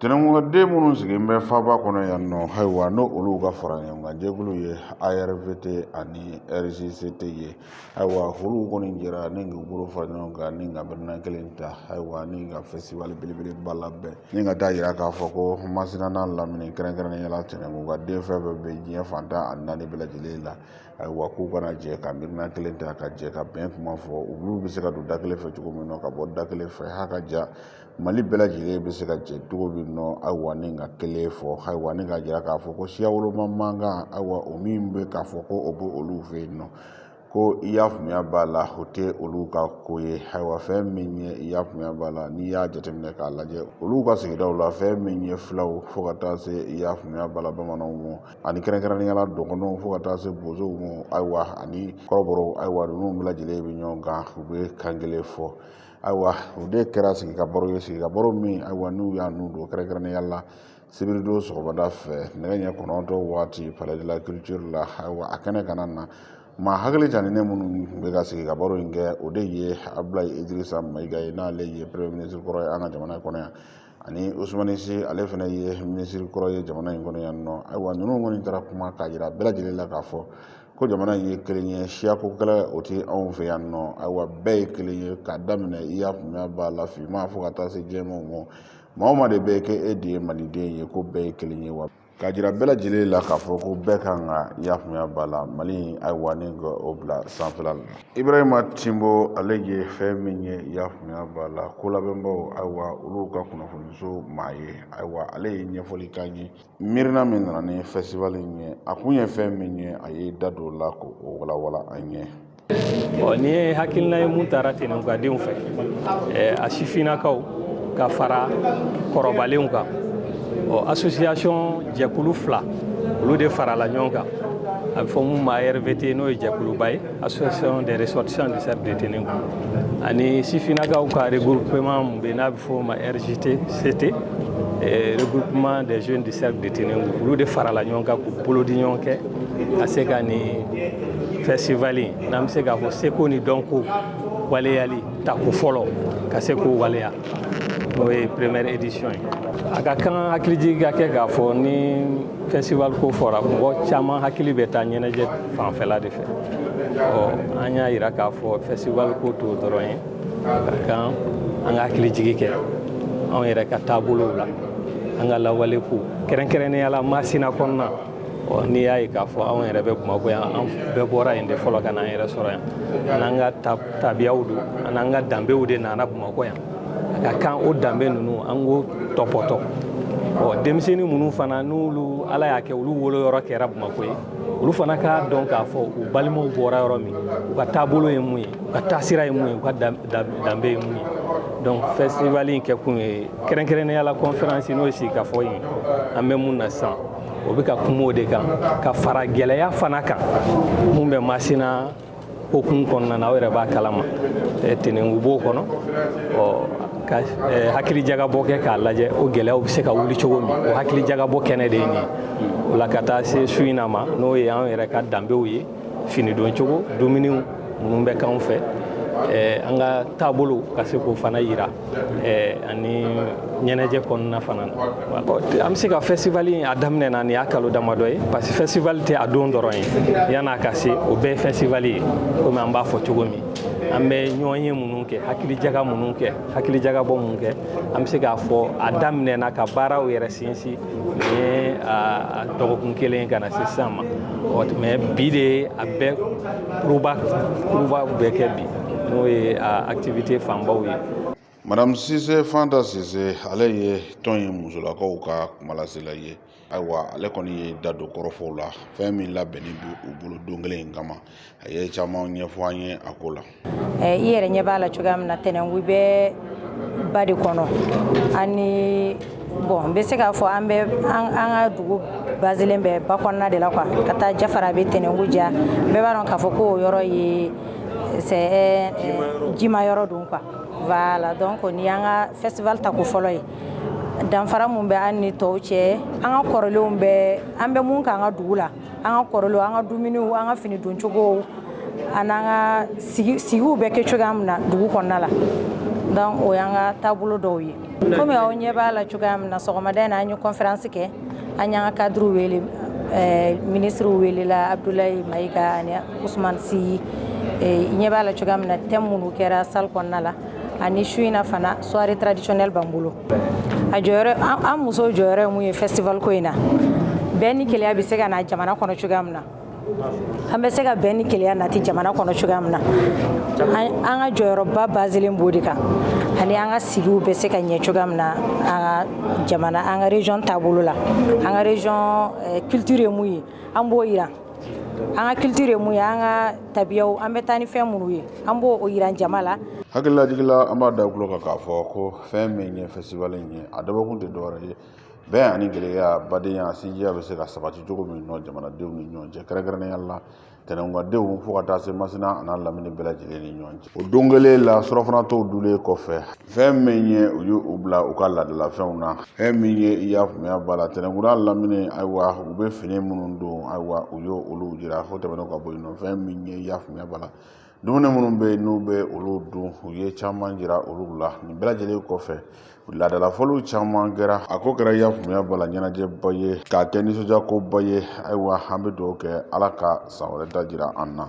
Tɛnɛnkun ka den minnu sigilen bɛ faaba kɔnɔ yan nɔ ayiwa n'o olu ka fara ɲɔgɔn kan jɛkulu ye ARVT ani RJCT ye ayiwa olu kɔni jɛra ni k'u bolo fara ɲɔgɔn kan ni ka miirina kelen ta ayiwa ni ka festival belebeleba labɛn ni ka taa yira k'a fɔ ko Masina n'a lamini kɛrɛnkɛrɛnnenya la tɛnɛnkun ka den fɛn fɛn bɛ diɲɛ fan tan ani naani bɛɛ lajɛlen la ayiwa k'u ka na jɛ ka miirina kelen ta ka jɛ ka bɛn kuma fɔ olu bɛ se ka don da kelen fɛ cogo min na ka bɔ da kelen fɛ ha ka ja mali bɛɛ lajɛlen bɛ se ka jɛ cogo min na ayiwa ni ka kelen fɔ ayiwa ni ka jira k'a fɔ ko siya woloma mankan ayiwa o min bɛ ka fɔ ko o bɛ olu fɛ yen nɔ ko i y'a faamuya b'a la o tɛ olu ka ko ye ayiwa fɛn min ye i y'a faamuya b'a la n'i y'a jateminɛ k'a lajɛ olu ka sigidaw la fɛn min ye filaw fo ka taa se i y'a faamuya b'a la bamananw ma ani kɛrɛnkɛrɛnnenya la dɔgɔnɔw fo ka taa se bozow ma ayiwa ani kɔrɔbɔrɔw ayiwa ninnu bɛɛ lajɛlen bɛ ɲɔgɔn kan u bɛ kan kelen fɔ ayiwa o de kɛra sigi ka baro ye sigi ka baro min ayiwa n'u y'a n'u don kɛrɛnkɛrɛnnenya la sibiridon sɔgɔmada fɛ nɛgɛ ɲɛ kɔnɔntɔn waati palais de la culture la ayiwa a kɛnɛ kan na maa hakili janinen minnu tun bɛ ka sigi ka baro in kɛ o de ye abdulayi idirisa mayiga ye n'ale ye premier ministre kɔrɔ ye an ka jamana kɔnɔ yan ani usumani si ale fana ye minisiri kɔrɔ ye jamana in kɔnɔ yan nɔ ayiwa ninnu kɔni taara kuma k'a jira bɛɛ lajɛlen la k'a fɔ ko jamana in ye kelen ye siyako kɛlɛ o tɛ anw fɛ yan nɔ ayiwa bɛɛ ye kelen ye k'a daminɛ i y'a faamuya b'a la finman fo ka taa se jɛmanw ma maa o maa de bɛ k'e de ye maliden ye ko bɛɛ ye kelen ye wa Ka jira bɛɛ lajɛlen la k'a fɔ ko bɛɛ ka kan ka i y'a faamuya b'a la mali ayiwa ni k'o bila sanfɛla la ibrahima timbo ale ye fɛn min ye i y'a faamuya b'a la ko labɛnbaw ayiwa olu ka kunnafoniso maa ye ayiwa ale ye ɲɛfɔli k'an ye miirina min nana ni festival ye a kun ye fɛn min ye a ye da don a la k'o walawala an ye ɔ nin ye hakilina ye min tara tɛnɛnkun ka denw fɛ a sifinnakaw ka fara kɔrɔbalenw kan ɔ association jɛkulu fila olu de farala ɲɔgɔn kan a bɛ fɔ min ma arvt n'o ye jɛkuluba ye association des ressortissants du cercle de tenenkou ani sifinnakaw ka regroupement min bɛ n'a bɛ fɔ o ma rjct regroupement des jeunes du cercle de tenenkou olu de farala ɲɔgɔn kan k'u bolo di ɲɔgɔn kɛ ka se ka nin festival n'an bɛ se k'a fɔ seko ni dɔnko waleyali tako fɔlɔ ka se k'o waleya n'o ye première édition ye a ka kan hakilijigi ka kɛ k'a fɔ ni festival ko fɔra mɔgɔ caman hakili bɛ taa ɲɛnajɛ fanfɛla de fɛ ɔ an y'a yira k'a fɔ festival ko t'o dɔrɔn ye a ka kan an ka hakilijigi kɛ anw yɛrɛ ka taabolow la an ka lawale ko kɛrɛnkɛrɛnnenya la masina kɔnɔna n'i y'a ye k'a fɔ anw yɛrɛ bɛ bamakɔ yan an bɛɛ bɔra yen de fɔlɔ ka n'an yɛrɛ sɔrɔ yan an n'an ka tabiyaw don an n'an ka danbew de nana bamakɔ yan a ka kan o danbe ninnu an k'o tɔpɔtɔ ɔ denmisɛnnin minnu fana n'olu ala y'a kɛ olu wolo yɔrɔ kɛra bamakɔ ye olu fana k'a dɔn k'a fɔ u balimaw bɔra yɔrɔ min u ka taabolo ye mun ye u ka taasira ye mun ye u ka danbe ye mun ye donc festival in kɛkun ye kɛrɛnkɛrɛnnenya la conférence n'o ye sigikafɔ ye an bɛ mun na sisan o bɛ ka kuma o de kan ka fara gɛlɛya fana kan mun bɛ masina hokumu kɔnɔna na aw yɛrɛ b'a kalama tɛnɛnku b'o kɔnɔ ka hakilijagabɔ kɛ k'a lajɛ o gɛlɛyaw bɛ se ka wuli cogo min o hakilijagabɔ kɛnɛ de ye nin o la ka taa se su in na ma n'o ye an yɛrɛ ka danbew ye fini don cogo dumuniw minnu bɛ k'anw fɛ eh, an ka taabolo ka se k'o fana yira eh, ani ɲɛnajɛ kɔnɔna fana na an bɛ se ka festival in a daminɛna nin y'a kalo damadɔ ye parce que festival tɛ a don dɔrɔn ye yan'a ka se o bɛɛ ye festival ye komi an b'a fɔ cogo min an bɛ ɲɔgɔnye minnu kɛ hakilijaga minnu kɛ hakilijagabɔ minnu kɛ an bɛ se k'a fɔ a daminɛna ka baaraw yɛrɛ sinsin a dɔgɔkun kelen ka na se sisan ma mais bi de a bɛɛ kuruba kuruba bɛ kɛ bi n'o ye activité fanbaw ye madame sise fanta sise ale ye tɔn in musolakaw ka kumalasela ye ayiwa ale kɔni ye da don kɔrɔfɔw la fɛn min labɛnnen don u bolo don kelen in kama a ye caman ɲɛfɔ an ye a ko la i yɛrɛ ɲɛ b'a la cogoya min na tɛnɛnkun bɛ ba de kɔnɔ ani bon n bɛ se k'a fɔ an bɛ an ka dugu basilen bɛ ba kɔnɔna de la quoi ka taa jafarabɛ tɛnɛnku ja bɛɛ b'a dɔn k'a fɔ ko o yɔrɔ ye c'est jima yɔrɔ don quoi voilà donc nin y'an ka festival tako fɔlɔ ye danfara mun bɛ an ni tɔw cɛ an ka kɔrɔlenw bɛ an bɛ mun k'an ka dugu la an ka kɔrɔlenw an ka dumuniw an ka fini don cogow an'an ka sigiw bɛ kɛ cogoya min na dugu kɔnɔna la donc o y'an ka taabolo dɔw ye komi aw ɲɛ b'a la cogoya min na sɔgɔmada in na an ye conférence kɛ an y'an ka cadre wele eh, ministre welela abdoulaye mayiga ani ousmane sy i ɲɛ b'a la cogoya min na thème minnu kɛra salle kɔnɔna la ani su in na fana soirée traditionnelle b'an bolo a jɔyɔrɔ an muso jɔyɔrɔ ye mun ye festival ko in na bɛn ni kelenya bɛ se ka na jamana kɔnɔ cogoya min na an bɛ se ka bɛn ni kelenya nati jamana kɔnɔ cogoya min na an ka jɔyɔrɔba basilen b'o de kan ani an ka sigiw bɛ se ka ɲɛ cogoya min na an ka jamana an ka région taabolo la an ka région eh, culture ye mun ye an b'o jira an ka culture ye mun ye an ka tabiyaw an bɛ taa ni fɛn minnu ye an b'o jira jama la hakililajigin la an b'a da tulo kan k'a fɔ ko fɛn min ye fɛsibali in ye a dabɔkun tɛ dɔwɛrɛ ye bɛn ani kelenya badenya sinjiya bɛ se ka sabati cogo min nɔ jamanadenw ni ɲɔgɔn cɛ kɛrɛnkɛrɛnnenya la tɛnɛnkadenw fo ka taa se masina an'a lamini bɛɛ lajɛlen ni ɲɔgɔn cɛ o don kelen la surɔfanatɔw dulen kɔfɛ fɛn min ye u ye u bila u ka laadalafɛnw na fɛn min ye i y'a faamuya b'a la tɛnɛnku n'a lamini ayiwa u bɛ fini minnu don ayiwa u y'olu jira fo tɛmɛnen ka bɔ yen nɔ fɛn min ye i y'a faamuya b'a la dumuni minnu bɛ yen n'u bɛ olu dun u ye caman jira olu la nin bɛɛ lajɛlen kɔfɛ laadalafɔliw caman kɛra a ko kɛra y'a faamuya b'a la ɲɛnajɛba ye k'a kɛ nisɔndiyakoba ye ayiwa an bɛ dugawu kɛ ala ka san wɛrɛ ta jira an na